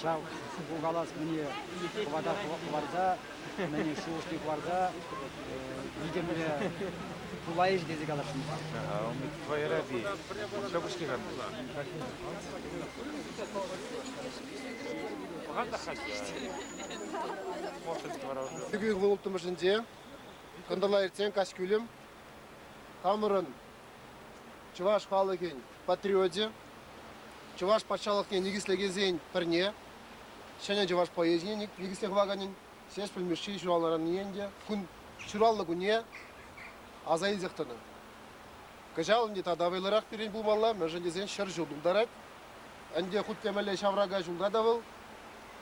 Ҫав калас мӗне хӑвата хӑварса, мӗне шухӑшне хӑварса витӗмлӗ пулайӗҫ тесе каласшӑн. Умит твоераби. Шӑпӑшки ханды. Пӑхатах хатист. Может, творожный. Ытымӑшӗнче кӑнтӑрла иртсен каҫ кӳлӗм хамӑрӑн чӑваш халӑхӗн патриочӗ, чӑваш патшалӑхне никӗслекенсен пӗрне, ҫӗнӗ чӑваш поэзине никӗсле хӑваканӗн Ҫеҫпӗл Мишши ҫуралнӑранне ӗнтӗ кун ҫуралнӑ кунне аса илсех тӑнӑ. Кӑҫал ӗнтӗ тата вӑйлӑрах пирӗн пулмалла, мӗншӗн тесен ҫӗр ҫул тултарать. Ӗнтӗ хут темелле ҫаврака ҫулта та вӑл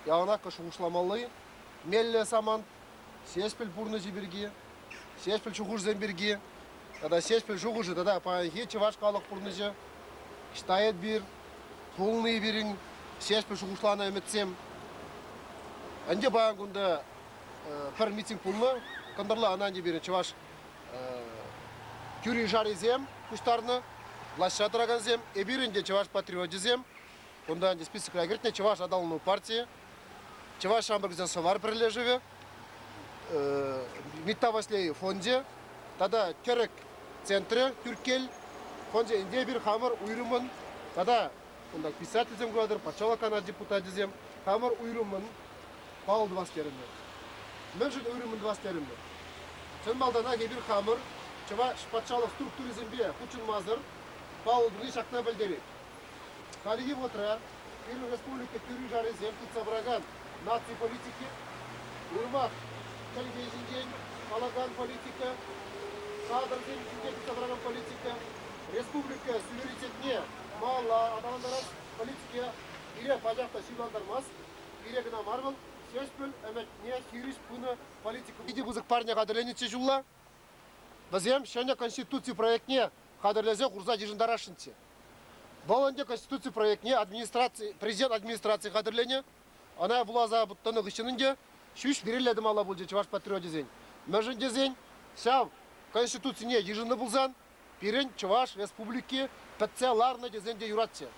яланах шухӑшламалли меллӗ самант. Ҫеҫпӗл пурнӑҫӗ пирки, Ҫеҫпӗл шухӑшӗсем пирки тата Ҫеҫпӗл шухӑшӗ тата паянхи чӑваш халӑх пурнӑҫӗ ӑҫта эпир пулни пирӗн Ҫеҫпӗл шухӑшланӑ ӗмӗтсем. Ӗнтӗ паян кунта пӗр митинг пулнӑ, кӑнтӑрла ӑна ӗнтӗ пирӗн чӑваш тӳри-шарисем пуҫтарнӑ, влаҫра тӑракансем, эпир ӗнтӗ чӑваш патриочӗсем. Кунта ӗнтӗ списокра кӗртнӗ чӑваш аталану партийӗ Чӑваш ҫамрӑксен сӑвар пӗрлешӗвӗ, Митта Васлей фончӗ тата Кӗрӗк центрӗ Тӳрккел фончӗ ӗнтӗ эпир хамӑр уйрӑмӑн тата кунта писательсем куратӑр, патшалӑх канаш депутачӗсем хамӑр уйрӑмӑн паллӑ тӑвас терӗмӗр. Мӗншӗн уйрӑмӑн тӑвас терӗмӗр? Чӑн малтанах эпир хамӑр чӑваш патшалӑх структурисемпе хутшӑнмасӑр паллӑ туни ҫакна пӗлтерет. Хальхи вӑхӑтра пирӗн республика тӳри-шарисем тытса пыракан наци политики уйрӑмах чӗлхе ҫинчен калакан политика, кадрсем ҫинчен тытса тӑракан политика, республика суверенитетне малалла аталантарас политика пире пачах та ҫырлантармасть. Пире кӑна мар вӑл, ҫеҫпӗл ӗмӗтне хирӗҫ пынӑ политика. Питӗ пысӑк парне хатӗрленӗччӗ ҫулла. Вӗсем ҫӗнӗ конституци проектне хатӗрлесе хурса йышӑнтарасшӑнччӗ. Вӑл ӗнтӗ Конституци проектне администраци, Президент администраци хатӗрленӗ. Ӑна вуласа тӑнӑ хыҫҫӑн ӗнтӗ ҫӳҫ вирелле тӑмалла пулчӗ чӑваш патриочӗсен. Мӗншӗн тесен ҫав Конституцине йышӑннӑ пулсан пирӗн Чӑваш Республики пӗтсе ларнӑ тесен те юратчӗ.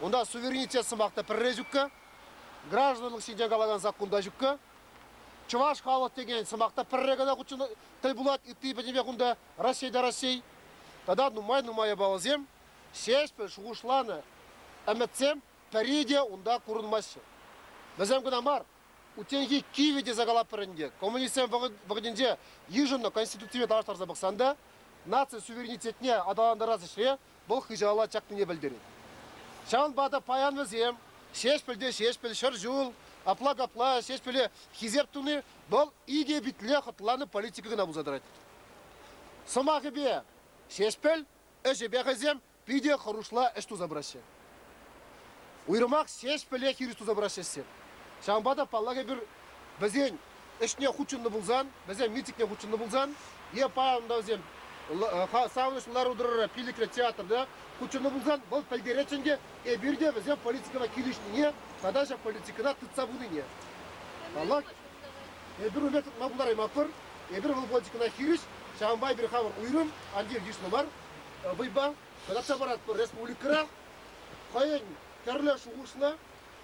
Унта суверенитет сӑмах та пӗрре ҫукка, гражданлӑх ҫинчен калакан саккун та ҫукка. Чӑваш халӑх текен сӑмах та пӗрре кӑна хутшӑнать тӗл пулать, ытти пӗтӗмпех унта Раҫҫейта Раҫҫей тата нумай-нумай япаласем, ҫеҫпӗл шухӑшланӑ ӗмӗтсем пӗри те унта курӑнмаҫҫӗ. Вӗсем кӑна мар, утенхи кивӗ тесе калатпӑр ӗнтӗ. Коммунистсем вӑхӑтӗнче йышӑннӑ Конституципе танлаштарса пӑхсан та наци суверенитетне аталантарас ӗҫре вӑл хыҫала чакнине пӗлтерет. Ҫавӑнпа та паян вӗсем Ҫеҫпӗл те Ҫеҫпӗл, Ҫӗр ҫул, апла-капла Ҫеҫпӗле хисеп туни вӑл икӗ питле хӑтланӑ политика кӑна пулса тӑрать. Сӑмахӗпе, Ҫеҫпӗл ӗҫӗпе хӑйсем питӗ хӑрушла ӗҫ туса пыраҫҫӗ. Уйрӑмах ҫеҫпӗле хирӗҫ туса пыраҫҫӗ ӗҫсем. Ҫавӑнпа та, паллах, эпир вӗсен ӗҫне хутшӑннӑ пулсан, вӗсен митингне хутшӑннӑ пулсан е паян та вӗсем савӑнӑҫлӑ лару-тӑрура пиллӗкре театрта хутшӑннӑ пулсан, вӑл пӗлтеретчӗ ӗнтӗ эпир те вӗсем политикӑна килӗшнине тата ҫак политикӑна тытса пынине. Паллах, эпир унпа тытма пултараймастпӑр. Эпир вӑл политикӑна хирӗҫ, ҫавӑнпа эпир хамӑр уйрӑм, анчах йышлӑ мар вӑйпа татса паратпӑр республикӑра. Хӑйӗн тӗрлӗ шухӑшлӑ,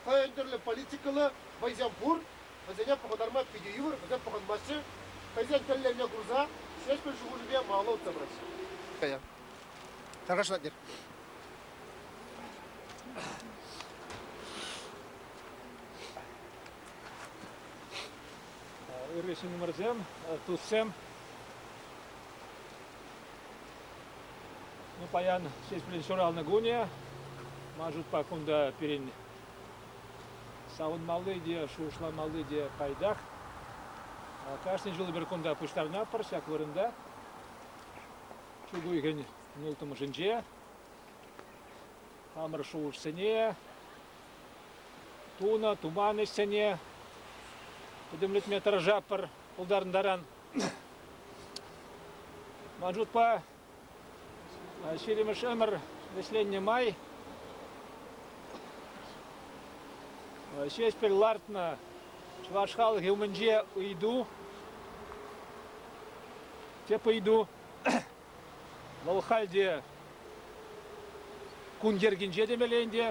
хӑйӗн тӗрлӗ политикӑллӑ вӑйсем пур, вӗсене пӑхӑнтарма питӗ йывӑр, вӗсем пӑхӑнмаҫҫӗ. Хӑйсен тӗллевне курса Ҫеҫпӗл шухӑшӗпе малалла утса пыраҫҫӗ. Хорошо, Надир. Ырри ҫыннӑмӑрсем, туссем. Ну, паян Ҫеҫпӗл ҫуралнӑ кунӗ. Ман шутпа, кунта пирӗн савӑнмалли те, шухӑшламалли те пайтах. Кашни ҫул эпир кунта пуҫтарӑнатпӑр ҫак вырӑнта. Чӳк уйӑхӗн ылтӑмӑшӗнче. Хамӑр шухӑшсене, тунӑ, туман ӗҫсене пӗтӗмлетме тӑрӑшатпӑр пултарӑнтаран. Маджудпа ҫирӗмӗш ӗмӗр вӗҫленнӗ май Ҫеҫпӗл лартнӑ чӑваш халӑхӗ умӗнче ыйту, тӗп ыйту, вӑл халь те кун йӗркинче темелле ӗнтӗ.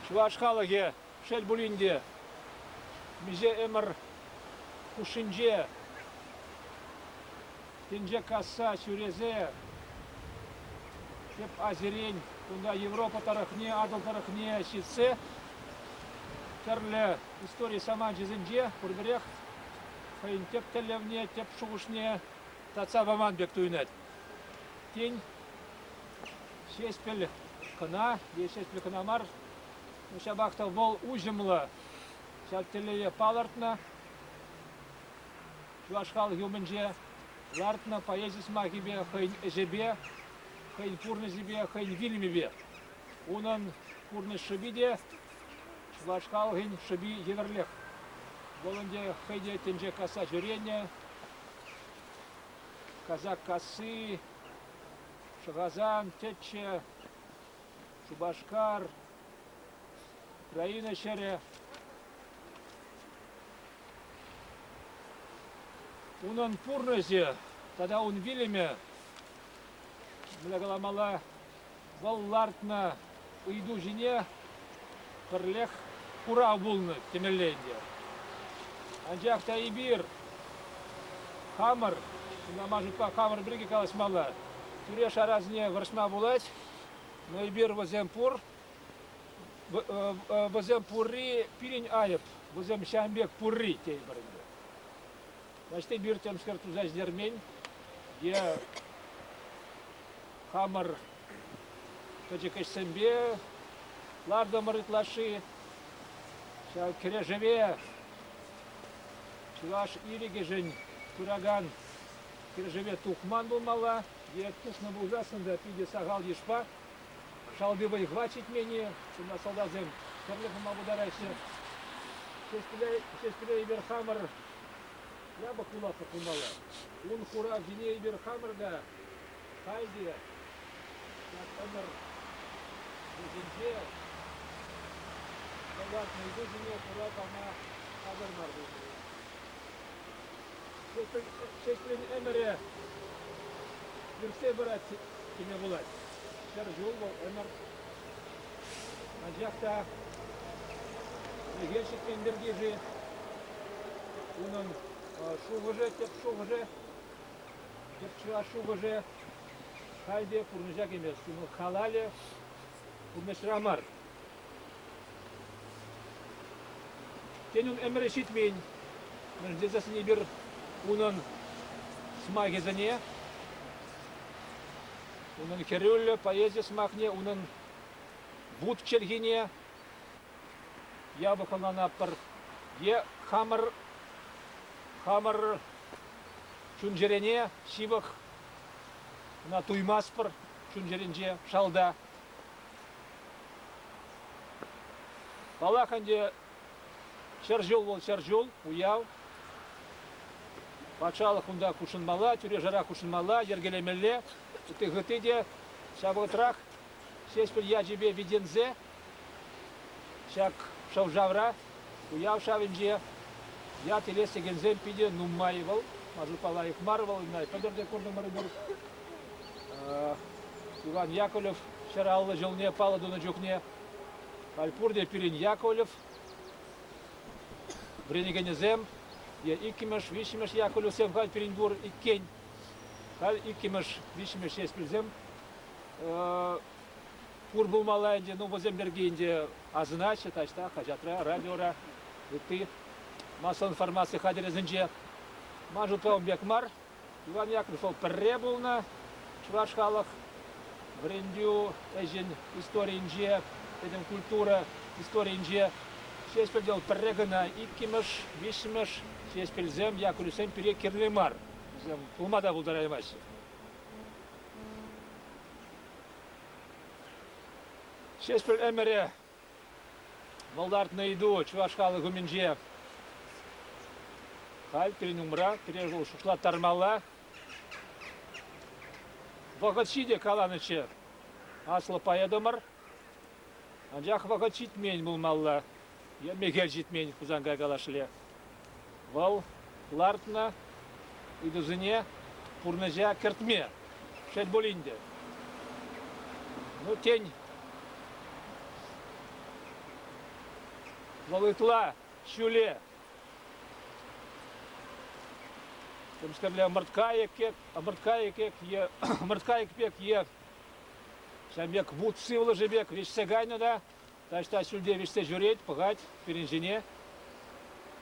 Чӑваш халӑхӗ Шел пулин те, миҫе ӗмӗр хушшинче тӗнче касса ҫӳресе тӗп Азирен, кунта Европа тӑрӑхне, Атӑл тӑрӑхне ҫитсе тӗрлӗ истори саманчӗсенче пурпӗрех хӑйӗн тӗп тӗллевне, тӗп шухӑшне татса паман пек туйӑнать. Тен, Ҫеҫпӗл кӑна е Ҫеҫпӗл кӑна мар, Ҫапах та вӑл уҫӑмлӑ ҫак тӗллеве палӑртнӑ. Чӑваш халӑхӗ умӗнче лартнӑ поэзи сӑмахӗпе хӑйӗн ӗҫӗпе, хӑйӗн пурнӑҫӗпе, хӑйӗн вилӗмӗпе. Унӑн пурнӑҫ шӑпи те, чӑваш халӑхӗн шӑпи евӗрлех. Вӑл ӗнтӗ хӑй те тӗнче касса ҫӳренӗ. Казак касси, Шӑхасан тӗччӗ, Шупашкар, Украина ҫӗрӗ. Унӑн пурнӑҫӗ тата ун вилӗмӗ, мӗне каламалла, вӑл лартнӑ ыйту ҫине пӗрлех курав пулнӑ темелле ӗнтӗ. Анчах та эпир хамӑр, кунта ман шутпа хамӑр пирки калаҫмалла, тӳре-шарасене вӑрҫма пулать. Но эпир вӗсем пур, вӗсем пурри пирӗн айӑп, вӗсем ҫавӑн пек пурри тейпӗр ӗнтӗ. Значит, эпир темскер туса ӗҫтермен е хамӑр пӗчӗк ӗҫсемпе лартӑмӑр ытлашши. Ҫав кӗрешӗве чӑваш ирӗкӗшӗн пыракан Кӳршӗре тухман пулмалла е тухнӑ пулсассӑн та питӗ сахал йышпа шалти вӑй-хӑват ҫитмен-и, Чуна салтаксем тӗрлӗ пулма пултараҫҫӗ. Ҫеҫпӗле эпир хамӑр япӑх вуласлӑх пулмалла. Ун хуравҫине эпир хамӑр та халь те ҫак ӗмӗр вӗҫӗнче хӑварнӑ ыйтусене хура пама хатӗр мар пулмалла. ҫеҫпӗл ӗмӗрӗ иртсе пырать теме пулать. Ҫӗр ҫул вӑл ӗмӗр. Анчах та мӗнле ҫитмен пирки-ши унӑн шухӑшӗ, тӗп шухӑшӗ, тӗп чӑваш шухӑшӗ халь те пурнӑҫа кӗмест. Ун халалӗ пурнӑҫра мар. Тенӗн ӗмӗрӗ ҫитмен вӗрентесен эпир унӑн сӑмахӗсене, унӑн хӗрӳллӗ поэзи сӑмахне, унӑн вут чӗлхине япӑх ӑнланатпӑр. Е хамӑр хамӑр чун-чӗрене ҫывӑх ӑна туймастпӑр чун-чӗринче шалта. Паллах ӗнтӗ ҫӗр ҫул вӑл ҫӗр ҫул уяв. Патшалӑх унта хутшӑнмалла, тӳре-шара хутшӑнмалла, йӗркелемелле. Ытти хытти те ҫав вӑхӑтрах Ҫеҫпӗл ячӗпе витӗнсе ҫак шӑв-шавра Уяв шавӗнче ят илес текенсем питӗ нумай вӑл. Маджупа лайӑх мар вӑл, ӑна пӗлтӗр те куртӑмӑрӑпӑр. Иван Яковлев ҫӗр аллӑ ҫулне паллӑ тунӑ чухне халь пурте пирӗн Яковлев вӗренекенӗсем е иккӗмӗш, виҫҫӗмӗш Яковлевсем халь пирӗн пур иккен. Халь иккӗмӗш, виҫҫӗмӗш ҫеҫ пӗлсем пур пулмалла ӗнтӗ. Ну, вӗсем пирки ӗнтӗ асӑнаҫҫӗ таҫта, хаҫатра, радиора, ытти масса-информаци хатӗрӗсенче. Ман шутлавӑм пек мар. Иван Яковлев вӑл пӗрре пулнӑ чӑваш халӑх вӗрентӳ ӗҫӗн историйӗнче, пӗтӗм культура историйӗнче Ҫеҫпӗлте вӑл пӗрре кӑна иккӗмӗш, виҫҫӗмӗш Ҫеҫпӗлсем, Яковлевсем пире кирлӗ мар. Вӗсем пулма та пултараймаҫҫӗ. Ҫеҫпӗл ӗмӗрӗ вӑлтартнӑ ыйту чӑваш халӑх умӗнче халь пирӗн умра пире вӑл шутлаттармалла. Вӑхӑт ҫитӗ каланӑччӗ аслӑ поэтӑмӑр Анчах вӑхӑт ҫитмен пулмалла. Е мехел ҫитмен Хусанкай калашле. Вӑл лартнӑ ыйтусене пурнӑҫа кӗртме. Шел пулин те. Ну, тен, вӑл ытла ҫӳле темскерле ӑмӑрткайӑк пек, ӑмӑрткайӑк пек е ӑмӑрткайӑк пек е Ҫавӑн пек вут сывлӑшӗ пек вӗҫсе кайнӑ та таҫта ҫӳлте вӗҫсе ҫӳрет, пӑхать пирӗн ҫине.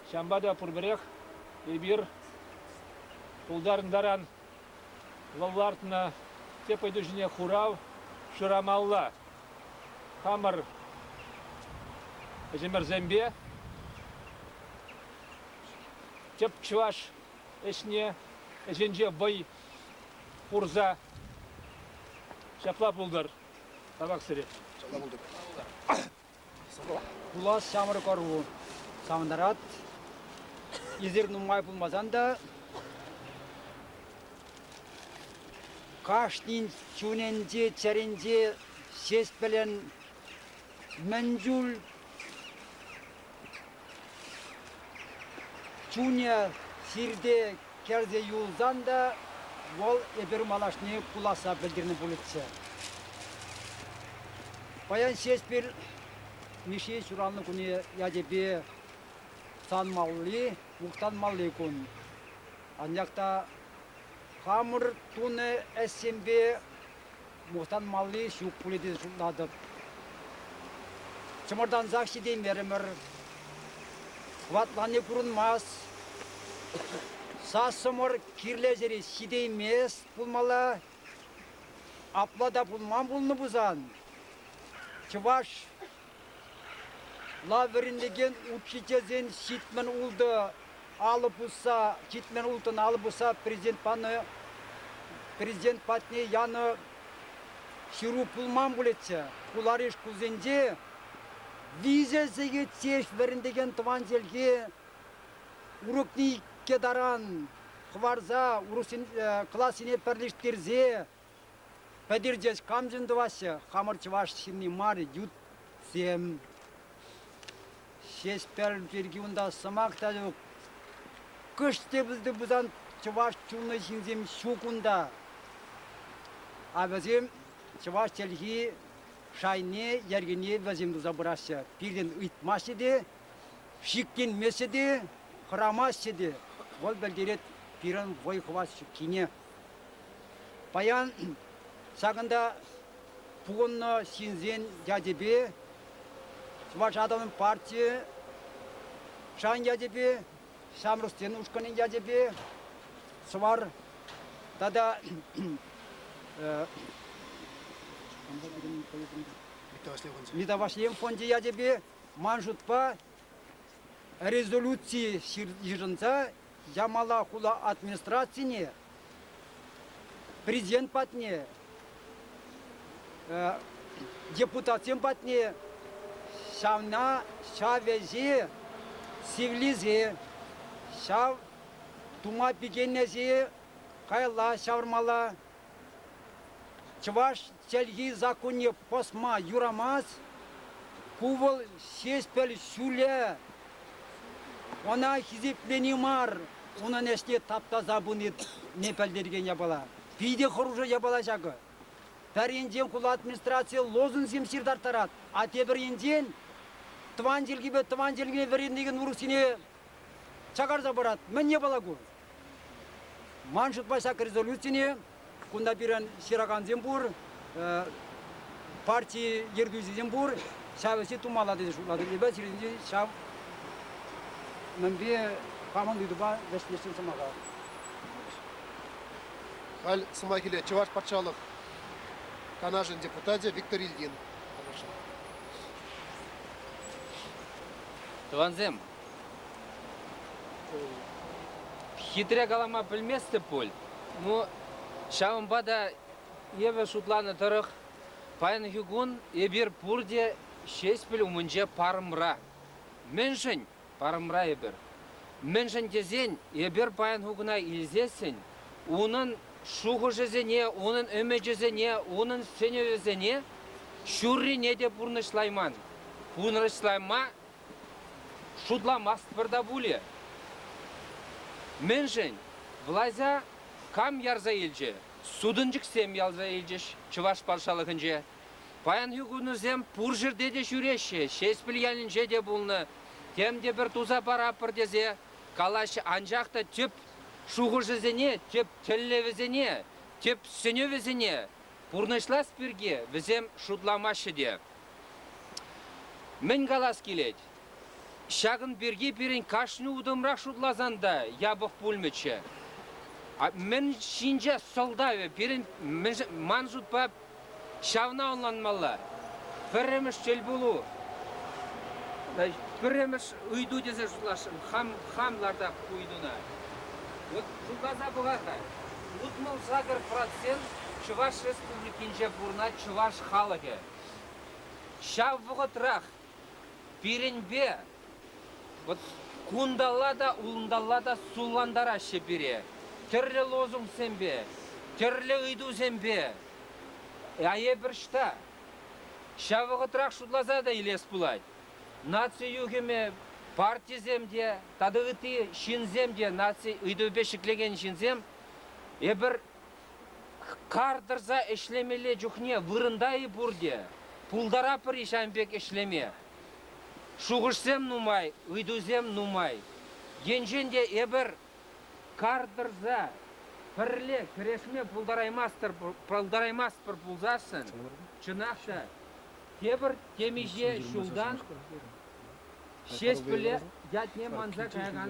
Ҫавӑнпа та пурпӗрех эпир тултарӑнтаран лӑллартнӑ тӗп ыйту ҫине хурав шырамалла. Хамӑр ӗҫӗмӗрсемпе тӗп чӑваш ӗҫне ӗҫӗнче вӑй хурса. Ҫапла пултӑр. Табаксӑри. Ҫапла пултӑр. Пулас ҫамрӑк ӑру савӑнтарать. Эсир нумай пулмасан та кашнин чунӗнче, чӗринче ҫеҫ пӗлен мӗн чуль Чунӗ сирте кӗрсе юлсан та вӑл эпир малашне пуласса пӗлтернӗ пулӗччӗ. Паян Ҫеҫпӗл Мишши ҫуралнӑ кунӗ ячӗпе санмалли, мухтанмалли кун. Анчах та хамӑр тунӑ ӗҫсемпе Мухтанмалли ҫук пулӗ тесе шутлатӑп. Чӑмӑртансах ҫитеймерӗмӗр. Хӑватланни курӑнмасть. Сассӑмӑр кирлӗ ҫӗре ҫитеймест пулмалла. Апла та пулман пулнӑ пулсан, чӑваш Лав вӗрентекен учительсен ҫитмӗл ултӑ алӑ пусса ҫитмӗл улттӑн алӑ пусса президент панӑ президент патне янӑ ҫыру пулман пулӗччӗ. Хулари шкулсенче виҫӗ сехет ҫеҫ вӗрентекен тӑван чӗлхе урокне иккӗ таран хӑварса урӑхсен классене пӗрлештерсе Пӗтертес камшӑн тӑваҫҫӗ хамӑр чӑваш ҫынни мар ютсем. Ҫеҫпӗл пирки унта сӑмах та ҫук. Кӑшт те пулсан чӑваш чулнӑ ҫынсем ҫук унта. А вӗсем чӑваш чӗлхи шайне, йӗркине вӗсем туса пыраҫҫӗ. Пирӗн ыйтмаҫҫӗ те, шикленмеҫҫӗ те, хӑрамаҫҫӗ те. Вӑл пӗлтерет пирӗн вӑй-хӑват ҫуккине. Паян ҫакӑнта пухӑннӑ ҫынсен ячӗпе Чӑваш атомӗн партийӗ шан ячӗпе, ҫамрӑксен ушкӑнӗн ячӗпе Сӑвар тата Мита Ваҫлейӗн фончӗ ячӗпе ман шутпа резолюци йышӑнса Ямала хула администрацине президент патне, депутатсем патне ҫавна ҫав ӗҫе сивлесе, ҫав тума пикенесе каялла ҫавӑрмалла. Чӑваш чӗлхи саккунне пӑсма юрамасть. Ку вӑл Ҫеҫпӗл ҫулӗ. Ӑна хисеплени мар, унӑн ӗҫне таптаса пынине пӗлтерекен япала. Питӗ хӑрушӑ япала ҫакӑ. Пӗр енчен хула администрацийӗ лозунгсем ҫыртарттарать, а тепӗр енчен тӑван чӗлхепе тӑван чӗлхепе вӗренекен урӑхсене чакарса парать. Мӗн япала ку? Ман шутпа ҫак резолюцине Кунта пирӗн ҫыракансем пур, парти ертӳҫисем пур. Ҫав ӗҫе тумалла тесе шутлатӑп. Эпӗ сирӗнпе ҫав мӗнпе хамӑн ыйтупа вӗҫлесшӗн сӑмаха. Халь сӑмахиле Чӑваш патшалӑх Канашӗн депутачӗ Виктор Ильин. Тӑвансем, Хитре калама пӗлместӗп пуль. Ну, ҫавӑнпа та эпӗ шутланӑ тӑрӑх паянхи кун эпир пурте Ҫеҫпӗл умӗнче парӑмра. Мӗншӗн парӑмра эпир? Мӗншӗн тесен эпир паянхи куна илсессӗн унӑн шухӑшӗсене, унӑн ӗмӗчӗсене, унӑн сӗнӗвӗсене ҫуррине те пурнӑҫлайман. Пурнӑҫлама Шутламастпӑр та пулӗ. Мӗншӗн? Влаҫа кам ярса илчӗ? Сутӑнчӑксем ярса илчӗҫ Чӑваш патшалӑхӗнче. Паянхи кунӑсем пур ҫӗрте те ҫӳреҫҫӗ, Ҫеҫпӗл ялӗнче те пулнӑ, тем те пӗр туса паратпӑр тесе калаҫҫӗ, анчах та тӗп шухӑшӗсене, тӗп тӗллевӗсене, тӗп сӗнӗвӗсене пурнӑҫлас пирки вӗсем шутламаҫҫӗ те. Мӗн калас килет? Ҫакӑн пирки пирӗн кашни утӑмрах шутласан та япӑх пулмӗччӗ. Мӗн ҫинче сӑлтавӗ пирӗн ман шутпа ҫавна ӑнланмалла. Пӗрремӗш тӗл пулу. Пӗрремӗш ыйту тесе шутласшӑн. Хам хам лартап ыйтуна. Вот шутласа пӑхар-ха. Утмӑл сакӑр процент Чӑваш Республикинче пурӑнать чӑваш халӑхӗ. Ҫав вӑхӑтрах пирӗнпе вот кунталла та, улӑнталла та суллантараҫҫӗ пире. Тӗрлӗ лозунгсемпе, тӗрлӗ ыйтусемпе. А эпир ӑҫта? Ҫав вӑхӑтрах шутласа та илес пулать. Наци юхӑмӗ партисем те тата ытти ҫынсем те наци ыйтӑвӗпе ҫӗклекен ҫынсем эпир Кар тӑрса ӗҫлемелле чухне вырӑнта-и пурте? Пултаратпӑр-и ҫавӑн пек ӗҫлеме? Шухӑшсем нумай, ыйтусем нумай. Енчен те эпир кар тӑрса пӗрле кӗрешме пултараймастпӑр, пултараймастпӑр пулсассӑн, чӑнах та, тепӗр темиҫе ҫултан Ҫеҫпӗле ятне манса каякан